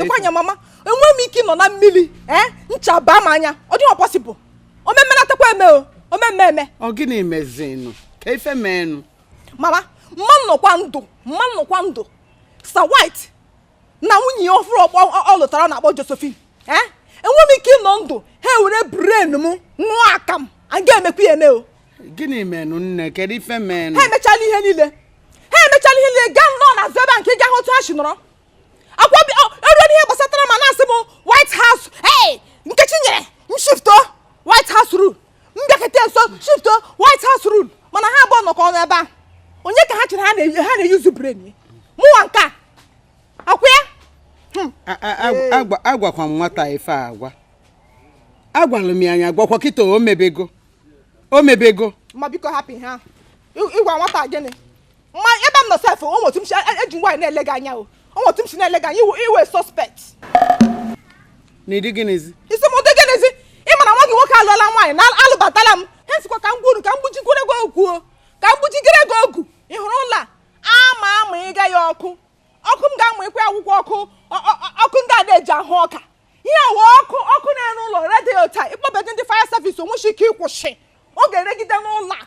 ekwanya mama enwe m ike ịnọ na mmili ee eh? ncha baa m anya ọ dịghị possible omemmenatakwa eme o omemme eme ọ gịnị mezinụ kee ife meenụ mama m ma anọkwa ndụ m ma anọkwa ndụ sir white na nwunye ya ọfụrụ ọ lụtara na-akpọ josephine ee eh? enweghị m ike ịnọ ndụ ha ewere brain m ṅụọ akamụ a ga-emekwa ya eme o gịnị menụ nne kedu ife menụ ha emechala ihe niile ha emechala ihe niile gaa nọọ na zebe nke gaa otu ha si nọrọ akwa eruo n'ihe gbasatara ma na-asị m white house ee nkechi nyere m shift o white house rule m bịakete nso shift o white house rule mana ha abụọ nọkọ ọnụ ebe a onye ka ha chere ha na-use brain mụwa nke a akwụ ya hmm. agwakwa m nwata ife agwa agwalụ m ya anya gwakwa kịta o mebego o mebego ma biko hapụ ha ịgwa nwata gịnị ma ebe m nọ sef o nwe otu m si e- eji nwaanyị na-ele gị anya o o nwe otu m si na-ele gị anya ị wụ ị wụ suspect n'ụdị gịnịzi ị sị n'ụdị gịnịzi ị ma na nwa gị nwoke alụọla nwaanyị na alụbatala m ha sikwa ka m gwuru ka m gbujikwere gị ogu o ka m gbujigere gị ogu ị hụrụ ụlọ a ama ama ịga ya ọkụ ọkụ m ga-amụ ịkwa akwụkwọ ọkụ ọ- ọ- ọ- ọkụ ndị a na-eji ahụ ọka ihe a wụ ọkụ ọkụ na-ere ụlọ redio taa ị kpọbedị ndị fire service o nweshi ike ịkwụsị ọ ga-eregide n'ụlọ a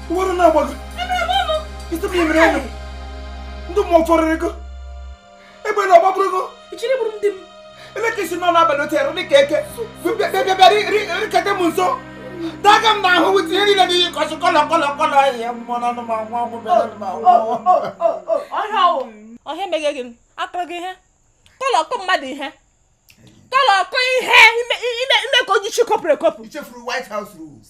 Uwere na agbago. Isi m yemere anya. Ndị mmụọ fọrịrị go. Egbe na ọgbabụrụ go. Ichiri bụrụ ndị m. Ele ka i si nọ n'abalị otu ere dịka eke. Bịa bịa bịa rikete m nso. Daga m n'ahụ wute ihe niile n'iyi kọsị kọlọ kọlọ kọlọ ihe mmụọ na anụmanụ nwa ọgwụ bịara anụmanụ. Ọhịa ọwụ. Ọhịa meghe gị. Akọrọ gị ihe. Kọlọ ọkụ mmadụ ihe. Kọlọ ọkụ ihe i me ka o ji chi kopụrụ ekopụ. I chefuru White House rules.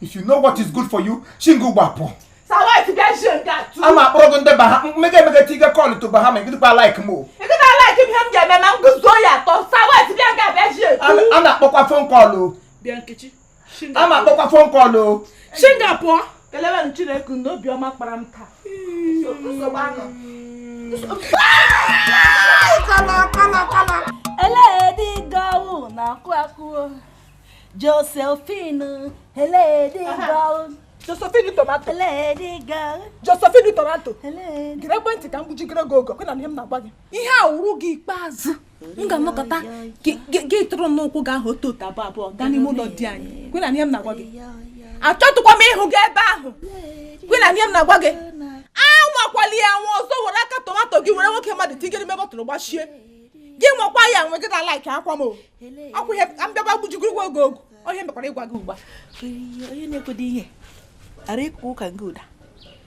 If you know what is good for you, shi nga a gbapụ. A ma akpọrọ gị ndị baha mmega emega ti ga call to Bahama gị dịkwa like m o. A na-akpọkwa phone call o. A ma akpọkwa phone call o. Shi nga a pụọ. kelewenụ chineke na obiọma kpara m taa nsogbu anọ eledi gị wụ na akụ akụ josephine eledi gị wụ josephine tomato eledi gị wụ josephine tomato gerekwa ntị ka m gbujigere gị ogu okwu na ihe m na-agwa gị ihe a wụrụ gị ikpeazụ m ga-anọkọta gị tụrụ n'ụkwụ gị ahụ otu otu abụọ abụọ gaa n'ime ụlọ di anyị kwe na ihe m na-agwa gị achọtụkwa m ịhụ gị ebe ahụ kwe na ihe m na-agwa gị anwakwala ya anwa ọzọ were aka tomato gị were nwoke mmadụ tigere ime bottle gbachie gị nwakwa ya anwa gị na like akwa m ọkwụ ihe ka m bịaba gbujugo igwe oge ogu onye mekwara ịgwa gị ugbu a onye na-ekwede ihe ara ịkụ ụka gị ụda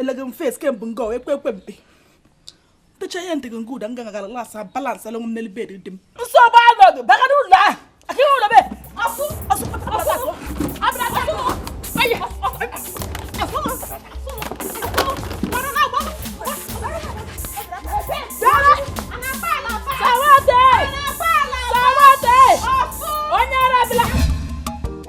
elege m face kemgbe nga ekwe ekwe mpe ntecha ihe ntị gị nga ụda nga gagara las balance alụ m n'elu bed di m nsogbu anọdụ bagara ụlọ a aka ihe ụlọ be asụ asụ asụ abịa asụ ayi asụ Sir White! Sir White! Onye arabila!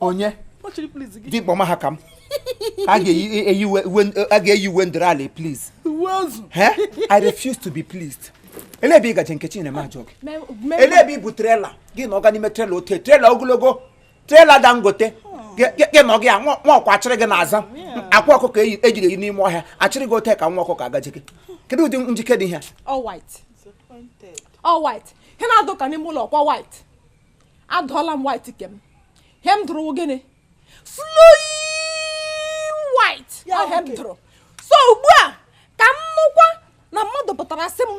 onye dịkpọma ha ka m a ga-eyi uwe ndịrị ala please i refuse to be pleased ele ebe ị gaje nkechi ana m ajụ gị ele ebe ị bụ trailer gị nọga n'ime trailer ote trailer ogologo Trailer Dangote gị nọ gị ya nwa ọkwa achịrị gị na-aza akwa ọkụkọ ejiri e eyi n'ime ọhịa achịrị gị ote ka nwa ọkụkọ agaji gị kedu ụdị njike dị ihe all white all white ihe na-adụ ka n'ime ụlọ ọkwa white adụọla m white kem ihe m dụrụ wụ gịnị flowing white wụ ihe m dụrụ so ugbu a ka m nụkwa na mmadụ pụtara sị m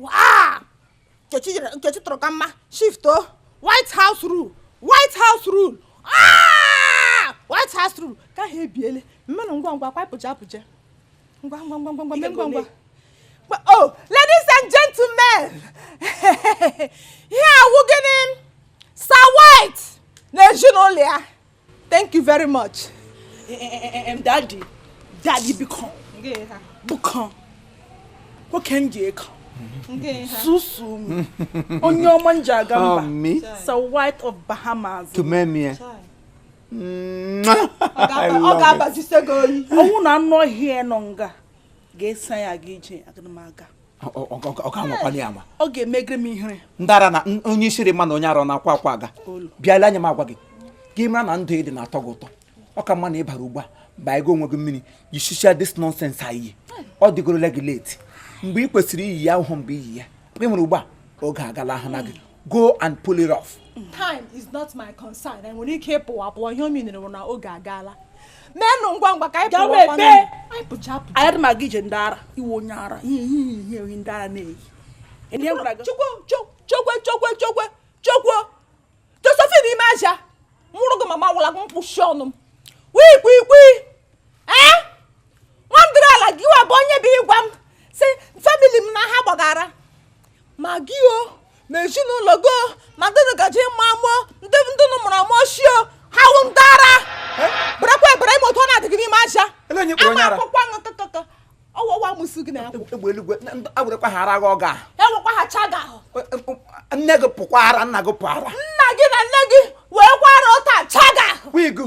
waa nkechi jere nkechi tụrụ ka mma shift o white house rule white house rule Ah! white house rule ka ha ebiele meenụ ngwa ngwa kwapụcha apụcha ngwa ngwa ngwa ngwa ngwa mee ngwa ngwa But, oh ladies and gentlemen ihe a wụ gịnị sir white na ezinụlọ ya thank you very much daddy daddy biko biko nwoke m ji ego susu m onye ọma m ji aga mba sir white of bahamas ọ ga-abazise gị oyi ọ wụ na anụ ọhịa nọ nga ga-esa ya gị ije aga m aga ọ ga-emegre m ihere ndị ara na onye isiri ma na onye ara na-akwa akwa aga bịa lee anya m agwa gị gị mara na ndụ ị dị na-atọ gị ụtọ ọ ka mma na ị bara ugbu a mba ego onwe gị mmiri yisicha this nonsense i yi ọ dịgorola gị late mgbe ị kwesịrị iyi ya awụhụ mgbe i yi ya ị nwere ugbu a oge agalahụna gị go and pull it off. time is not my concern anyị nwere ike ịpụ apụ ihe o minere bụ na oge agaala menụ ngwa ngwa ka anyị Gawa pụọ ebe? anyị pụcha pụcha ayadị ma gị ije ndị ara ị wụ onye ara ihe ihe ihe ihe ndị ara na-eyi Ndị e gwara gị- chukwu chu- chukwu chukwu chukwu chukwu josephine ime aja mụrụ gị mama wụla gị mkpụchi ọnụ m wikwikwii ee nwandịrị ala gị wa bụ onye bụ ịgwa m sị famili m na ha gbaga ara ma gị o ma ezinụlọ gị o ma ndị gaji ịmụ amụ ndị ndị nụ mụrụ amụ ochie o ha wụ ndị ara bụrakwa ebere ime otu ọ na-adị gị n'ime aja Ele onye kpọrọ onye ama ara? akwụkwọ ṅụ tụtụtụ ọwụwa mụsụ gị na ya egbe eluigwe agwụrekwa ha ara gị ọga ewekwa ha chaga ahụ nne gị pụkwa ara nna gị pụ ara nna gị na nne gị wee kwara ụta chaga ahụ wigu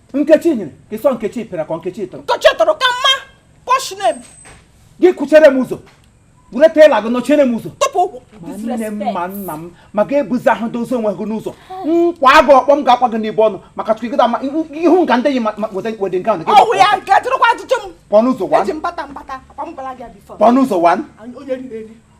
nkechi nyere ka ịsọ nkechi pịara ka nkechi tụrụ nkechi tụrụ ka mma posh name gị kụchere m ụzọ were tela gị nọchiere m ụzọ ma nne m ma nna m ma ga ebuzi ahụ dozi onwe gị n'ụzọ m kwaa gị ọkpọ m ga-akwa gị n'ibe ọnụ maka chukwu gịda ihu nga ndị yi wede nke ahụ pụọ n'ụzọ wan pụọ n'ụzọ wan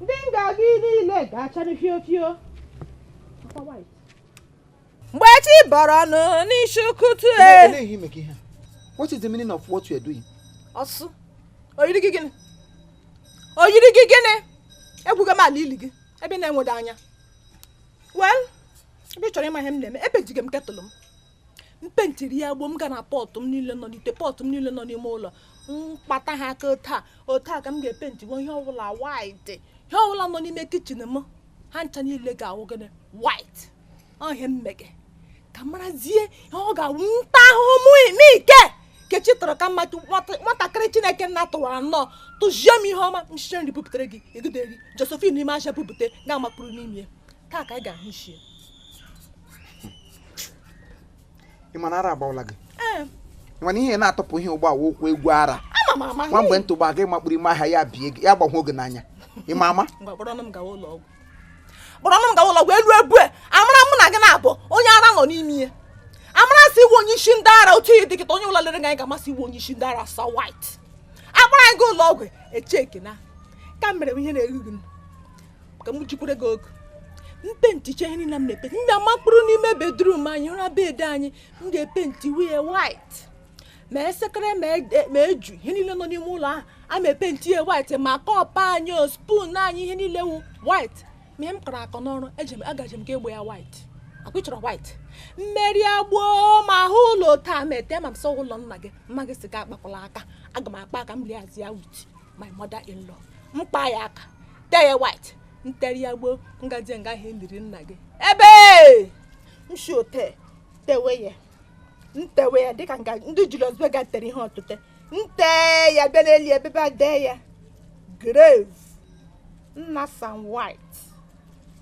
Ndị nga gị niile ga-achadị fio fio. Akwa white. mgbe chi bọrọ ọnụ n'isi ụtụtụ e Olee ihe ime ka ihe a? What is the meaning of what you are doing? ọ sị o yiri gị gịnị o yiri gị gịnị egwugo m ala ili gị ebe ị na-enwedị anya well ebe ị chọrọ ịma ihe m na-eme epentige m ketụlụ m m pentiri ya gboo m ga na pọtụ m niile nọ n'ite pọtụ m niile nọ n'ime ụlọ m kpata ha aka otu a otu a ka m ga-epentiwo ihe ọbụla white ihe ọbụla nọ n'ime kichin m ha ncha niile ga-awụ gịnị white ọ ihe m mege ka marazie ihe ọ ga-awụ nta ahụhụ mụ n'ike nkechi tụrụ ka mma nwatakịrị chineke nna tụwara nnọọ tụzie m ihe ọma m shie nri bupụtara gị egideri josephine n'ime ahịa bupụta ga-amakpụrụ n'ime taa ka anyị ga-ahụ ichie ị ma na ara agbawala gị ee ị ma na ihe na-atọpụ ihe ụgbọ awa okwu egwu ara ama m ama nwa mgbe ntụ gba gị makpụrụ ime ahịa ya bie gị ya gbahụ oge n'anya ị ma ama ngwa kpọrọnụ m gawa ụlọ ọgwụ kpọrọnụ m gawa ụlọ ọgwụ elu ebu a amara mụ na gị na-abụ onye ara nọ n'ime ihe a mara sị ị wụ onye isi ndị ara otu ị dị kịta onye wụla lere gị anya ga-ama sị ị wụ onye isi ndị ara sọ white akpọrọ anyị gaa ụlọ ọgwụ echeke na ka m mere ihe na-eruru m ka m jikwere gị oge m penticha ihe niile m na-epenti m makpụrụ n'ime bedrum anyị ụra bed anyị m ga-epenti wee white ma esekere ma e, eju ihe niile nọ n'ime ụlọ ahụ a ma epenti ya white ma kọpụ anyị o spoon anyị ihe niile wụ white ma ihe m kọrọ akọ n'ọrụ agaje m ga gbaa ya white ọ kwa ị chọrọ white mmeri agboo ma ahụ ụlọ taa ma ete ma m sọ ụlọ nna gị ma gị sị akpakwala aka aga m akpa aka m lie azụ ya white my mother in law m kpaa ya aka tee ya white nteri ya gboo ngaji nga e liri nna gị ebe m shi ete tewe ya ntewe ya dịka nga ndị Julius Berger tere ihe ọtụte nte ya bịa n'elu ebe a dee ya grave nna Sam White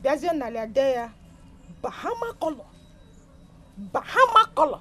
bịazie n'ala dee ya bahama color bahama color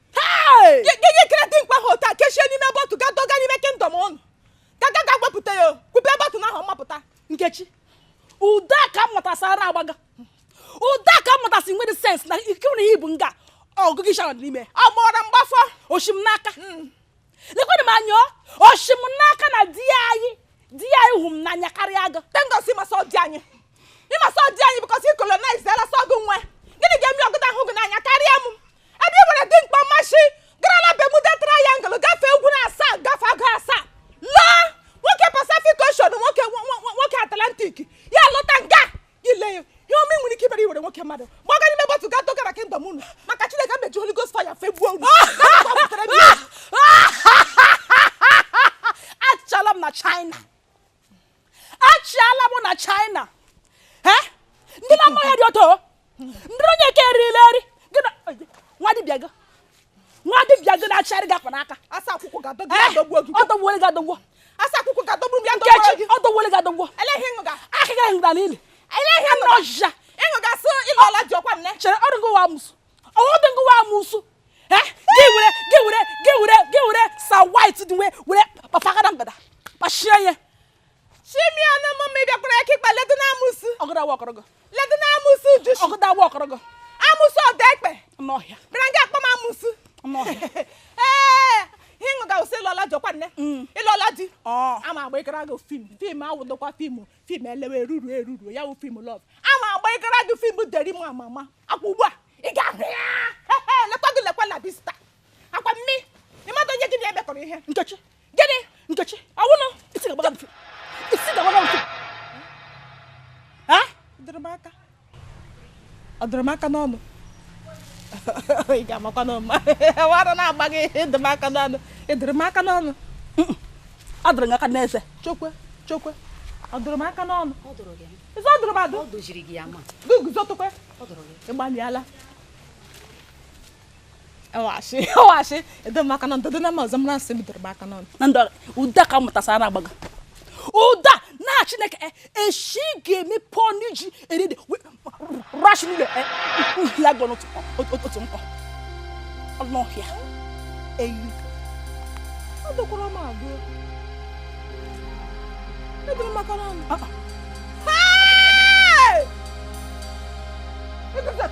gịnị kere di m kwa ha otu a kechie n'ime bottle ga doga n'ime kingdom unu ga-aga gaa wepụta ya kupe bottle na ahụ mapụta Nkechi Udoka mụtasara agbaga Udoka mụtasị nwere sense na ikewere ihe bụ nga ọgụgụ ishara n'ime ọ gbọrọ mgbafọ o shi m n'aka hmm. lekwanụ m anya o shi m n'aka na di anyị di anyị hụ m n'anya karịa gị thank God sị ị ma sị ọ di anyị ị ma sị ọ di anyị because i colonize ala sọ gị nwe gịnị ga-eme ọgụda ahụ gị n'anya karịa m ebe i were di m kpa mmasị gara na Bermuda Triangle gafee ugwu na asaa gafee agụ asaa laa n'oke Pacific Ocean n'oke n'oke Atlantic ya lọta nga ile ya ihe ọma nwere ike ibere i were nwoke mmadụ gbaga n'ime bottle gaa dọgara kingdom unu maka chineke m eji holy ghost fire fegbuo unu achala m na china achala m na china ndị na-amaghị dị ọtọ ndị onye ka erila eri nwa dibịa gị nwa dibịa gị na-achịgharị gị akpa n'aka asa akwụkwụ ga-adọgbu eh, adọgbuo gị ọdọgbuole gị adọgbuo asa akwụkwụ ga-adọgbu m ya adọgbuo gị ọdọgbuole gị adọgbuo eleghị ịṅụ ga aka gị ịṅụ ga n'ili eleghị ịṅụ ga ọjịja ịṅụ ga sị ị lụọla di ọ kwa nne chere ọdụ gị wa amụsụ ọdụ gị wa amụsụ eh, gị were gị were gị were gị were sa white dị wee were kpafagada mgbada kpachie ya chimiọnụ mụ ma ị bịakwara aka ịkpa ledo na amụsụ ọgụda awa ọkọrọgọ ledo na amụsụ ujuchi ọgụda awa ọkọrọgọ amụsụ ọdọ ekpe n'ọhịa bịara nga akpọ m amụsụ n'ọhịa ee ihe ṅụ ga-awụsị ị lụọla di ọ kwa nne Mm. ị lụọla di ọ ama agba ịgara gị film film awụdokwa film film elewe eruru eruru ya wụ film love ama agba ịgara gị film deri m ama ama akwa ugbu a ị ga-ahụ ya Ehe, lekwa gị lekwa la bista akwa mmi ị madụ onye gị na-emekọrọ ihe nkechi gịnị nkechi ọ wụnụ isi ga-agbaga mfe isi ga-agbaga mfe ị dụrụ m aka ọ dụrụ m aka n'ọnụ ị ga-amakwa na ọ wụ ara na-agba gị ị dụ m aka n'ọnụ ị dụrụ m aka n'ọnụ ọ dụrụ m aka n'eze chokwe chokwe ọ dụrụ m aka n'ọnụ ịzọ ọ dụrụ m adụ gị guzotụkwe ịgbalịala ọ wụ ashị ọ wụ ashị edo m aka na ndodo na ma ọzọ m na-asị bidoro m aka n'ọnụ na ndị ụda ka mụtasara na-agbaga ụda na chineke eh, eshi ga-emepe ọnụ iji eri ede rashi niile eh, ya gọ n'otu otu nkọ ọnụ ọhịa eyi ọ dọkwara m agụ ebere m aka n'ọnụ ah, ah. Hey! Look at that.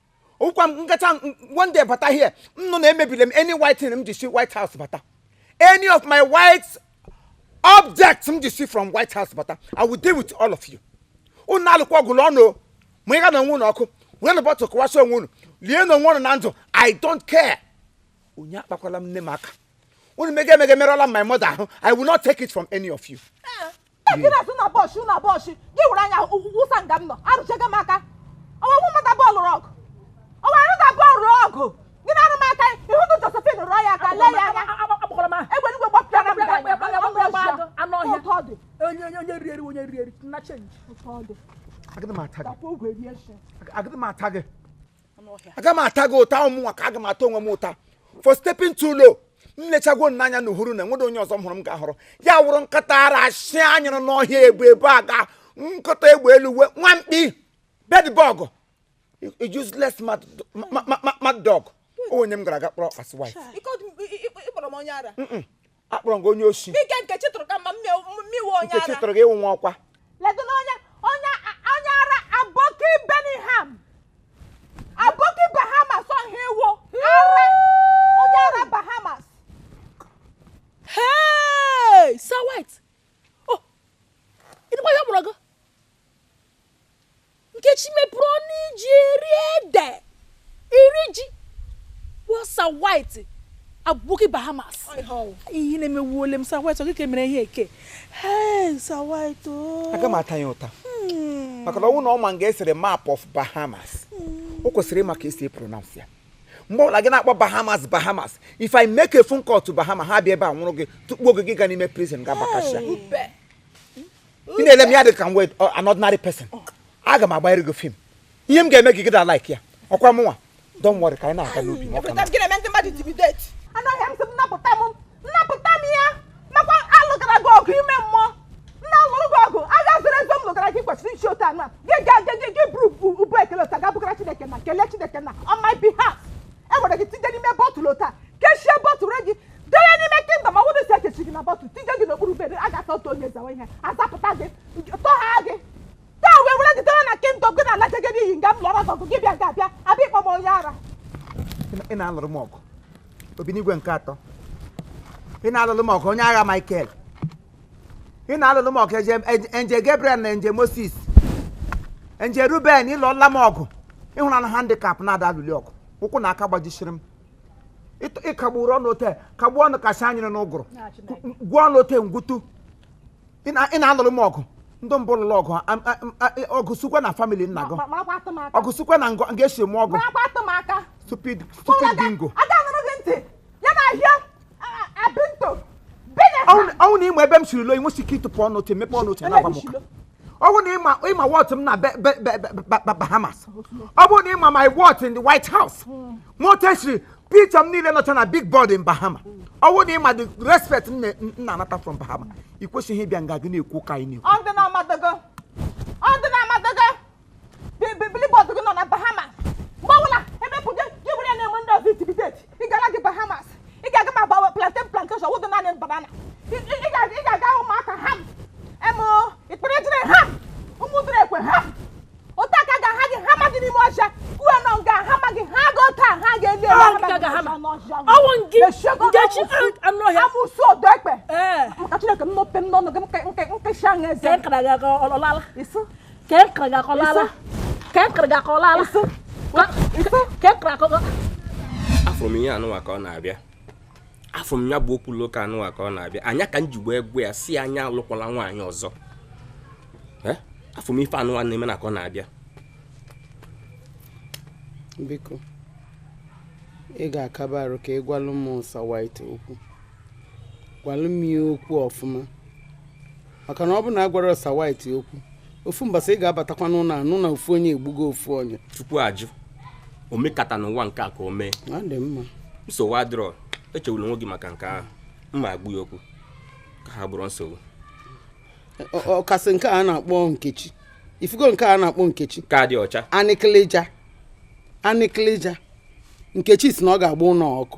ọkwa m gacha one day bata here unu na-emebiri m any white thing m ji si white house bata any of my white objects m ji si from white house bata i will deal with all of you unu alụkwa ọgụ lụọ ọnụ o. ma ị ga na onwe unu ọkụ were na bottle kụwasị onwe unu lie na onwe unu na ndụ i don't care onye akpakwala m nne m aka unu mega emega merụọla m my mother ahụ i will not take it from any of you Ntakịrị n'ụbọsị n'ụbọsị gị were anya wụsa nga m nọ arụchaga m aka ọ wụ mmadụ abụọ lụrụ ọgụ ọ wụ mmadụ abụọ lụrụ ọgụ gị na-arụ m aka ị hụdị Josephine rụọ ya aka lee ya anya egbe igwe gbapịara m anụ ọhịa onye onye onye rieri onye rieri na change agadị m ata gị aga m ata gị ụta ọ mụnwa ka aga m ata onwe m ụta for stepping too low m lechagwo m n'anya na uhuru na enwedo onye ọzọ m hụrụ m ga-ahụrụ ya wụrụ nkịta ara nsị a nyụrụ n'ọhịa ebu ebu aga nkịta egbe elu uwe nwa mkpi bedbug useless mad ma- ma- ma- mad dog onye m gara aga kpọrọ as wife Ike ọdụ- ị- ị- ị kpọrọ m onye ara akpọrọ m gị onye oshi ike nkechi tụrụ ka mma mmiwe onye nkechi tụrụ gị ị wụ nwa ọkwa ledo na onye onye onye ara aboki Birmingham aboki bahamas ọha iwu ara onye ara bahamas hey sir white oh ịdịkwa ihe mụrụ gị Nkechi mepere ọnụ iji eri ede, eri ji, gwa Sir White, aboki Bahamas. Ihe na-emewuole m Sir White, ọ gị ka emere ihe eke. Hey, Sir White, oh. aga m ata ya ụta Hmm. maka na ọ wụ na ọ ma nga e sere map of bahamas o kwesịrị ịma ka esi pronounce ya mgbe ọbụla gị na-akpọ bahamas bahamas if i make a phone call to bahama ha bịa ebe a nwụrụ gị tụkpuo gị gị ga n'ime prison ga bakasha ube. ị na-ele m ya dị ka m wụ an ordinary person aga m agbanyere gị film ihe m ga-eme gị gị da like ya ọkwa mụnwa don't worry ka anyị na-aga n'obi m ọka m. anaghị m sị m napụta m napụta m ya makwa alụgara gị ọgụ ime mmụọ m na-alụrụ gị ọgụ agha zoro ezo m lụgara gị kwesịrị isi otu anụ a gị ga gị gị gị buru bu ubu ekele ụta ga bugara chineke na kelee chineke na on my behalf e were gị tinye n'ime bọtụl otu a kechie bọtụl gị dere n'ime kingdom ọ bụrụ si ekechi gị na bọtụl tinye gị n'okpuru bere a ga-ata otu onye zawa ihe azapụta gị tọha gị taa wee were gị dere na kingdom gị na-alaje gị n'ihi nga m lụọrọ gị ọgụ gị bịa ga abịa abịa ịkpọ m onye ara ị na-alụrụ m ọgụ obinigwe nke atọ ị na-alụrụ m ọgụ onye agha Michael ị na-alụlụ m ọgụ angel Gabriel na angel Moses angel Ruben ị lụọla m ọgụ ị hụrụ na handicap na-ada alụli ọgụ ụkwụ na aka gbajisiri m Ịtụ- ịkagburu ọnụ ote kagbuo ọnụ kasị anyịrị n'ụgụrụ gwuo ọnụ ote ngwutu ị na- ị na-alụrụ m ọgụ ndị mbụ lụrụ ọgụ a- a- a- ọgụ sukwa na famili nna gị marakwa atụ m aka ọgụ sukwa na ngọ nga esi m ọgụ marakwa atụ m aka stupid stupid bingo aga anụrụ gị ntị ya na ahịa ọ wụ na ị ma ebe m siri lo inwesi ike ịtụpụ ọnụ otu emepe ọnụ otu na-agwa m ụka ọ wụ na ị ma ị ma worth m na Bahamas ọ bụrụ na ị ma my worth in the White House ma otu e siri picture m niile nọcha na big board in Bahama ọ bụ na ị ma the respect m na-anata from Bahama ị kwesịghị ịbịa nga gị na-ekwu ka anyị na-ekwu billboard gị nọ na Bahamas mgbe ọbụla ebe pụ gị gị bụrụ ya na-enwe ndị ọzọ intimidate ị gara gị Bahamas ị ga-aga ma gbawa plantain plantation wụdụ naanị banana ị ị ga- ị ga-aga ụmụaka ha emo ikpere jire ha ụmụ dịrị ekwe ha otu aka ga ha gị ha ma gị n'ime ọcha kwuo nọ nga ha ma gị ha ga otu a ha ga-eli ele Ọwụ ha ma nke gị ga ha ma. ọcha n'ọcha. Ọwụ nke- Echiego nke chi- n'amụsụ- anụ ọhịa. amụsụ ọdọ ekpe ee maka chineke m nọpe m n'ọnụ gị m ke- nke nkesha ṅa eze ka nkara gị aga ọlọlala isi ka e kere gị akọlala ka e kere gị akọlala ka e kere akọkọ afụ m ihe a nụwa ka ọ na-abịa afụ m ya bụ okwu na ụka a nụwa ka ọ na-abịa ọ nya ka m ji wee gwa ya si a nya alụkwala nwaanyị ọzọ Eh? afụ m ife a nụwa na-eme na ka ọ na-abịa biko ị ga-akaba arụ ka ị gwalụ m Sir White okwu gwalụ m ya okwu ọfụma maka na ọ bụ na agwarọ Sir White okwu ofu mbọsị ị ga-abatakwa n'ụlọ anụ na ofu onye egbugo ofu onye chukwu ajụ o mekata n'ụwa nke a ka o mee ọ dị mma nsogbu adịrọ echewula onwe gị maka nke ahụ m ma-agwa ya okwu ka ha bụrụ nsogbu ọkasị nke a na-akpọ Nkechi ị fụgo nke a na-akpọ Nkechi ka dị ọcha anịkịlịja anịkịlịja Nkechi si na ọ ga-agba ụlọ ọkụ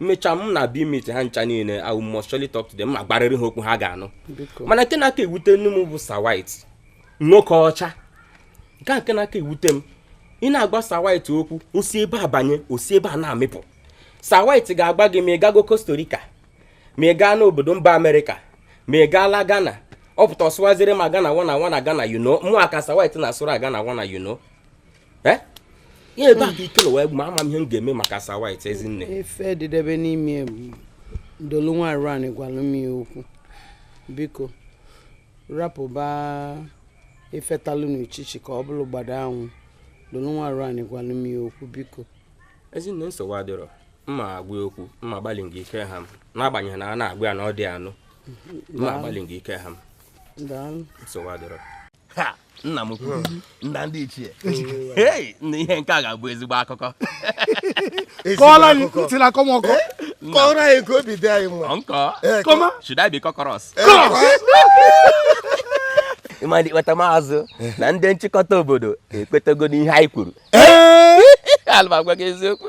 m mecha m na-abịa imeet ha ncha niile I will must surely talk to them ma gwarịrị ha okwu ha ga-anụ biko mana nke na-aka ewutenụ m bụ Sir White nwoke ọcha nke a nke na-aka ewute m ị na-agwa Sir White okwu o si ebe a banye o si ebe a na-amịpụ Sir White ga-agwa gị ma ị gago Costa Rica ma ị gaa n'obodo mba Amerịka ma ị gaala Ghana ọ pụta ọ sụwaziri m gonna wanna wanna gonna you know mụwa ka Sir White na-asụrụ gonna wanna you know Eh? ihe ebe a ka ike wee ma ama m ihe m ga-eme maka Sir White ezinne ife dịdebe n'ime dolu nwaanyị rani gwalụ m ya okwu biko rapụba ife talụ n'uchichi ka ọ bụrụ gbada anwụ dolu nwaanyị rani gwalụ m ya okwu biko ezinne nsogbu adịrọ mma agwa okwu mma agbalị gị ike ha m n'agbanyeghị na a na-agwa ya na ọ dị anụ mma agbalị gị ike ha m nsogbu adịrọ nna m nna ndị ichie ei nna ihe nke a ga-abụ ezigbo akụkọ kọọrọ anyị ntị la-akọ m ọkọ kọọrọ anyị ka obi dị anyị mma nkọ kọma should I be cockroach ịmadị kpata maazụ na ndị nchịkọta obodo ekwetago n'ihe anyị kwuru ala m agwa gị eziokwu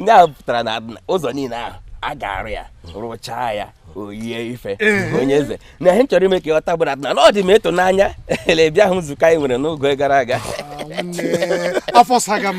ndị ahụ pụtara na ụzọ niile ahụ a ga-arụ ya rụchaa ya oyie ife onye eze na ihe m chọrọ ime ka ị ghọta bụ na na ọ dị m ịtụnanya la ị bịahụ nzukọ anyị nwere n'oge gara aga ah, afọ saga m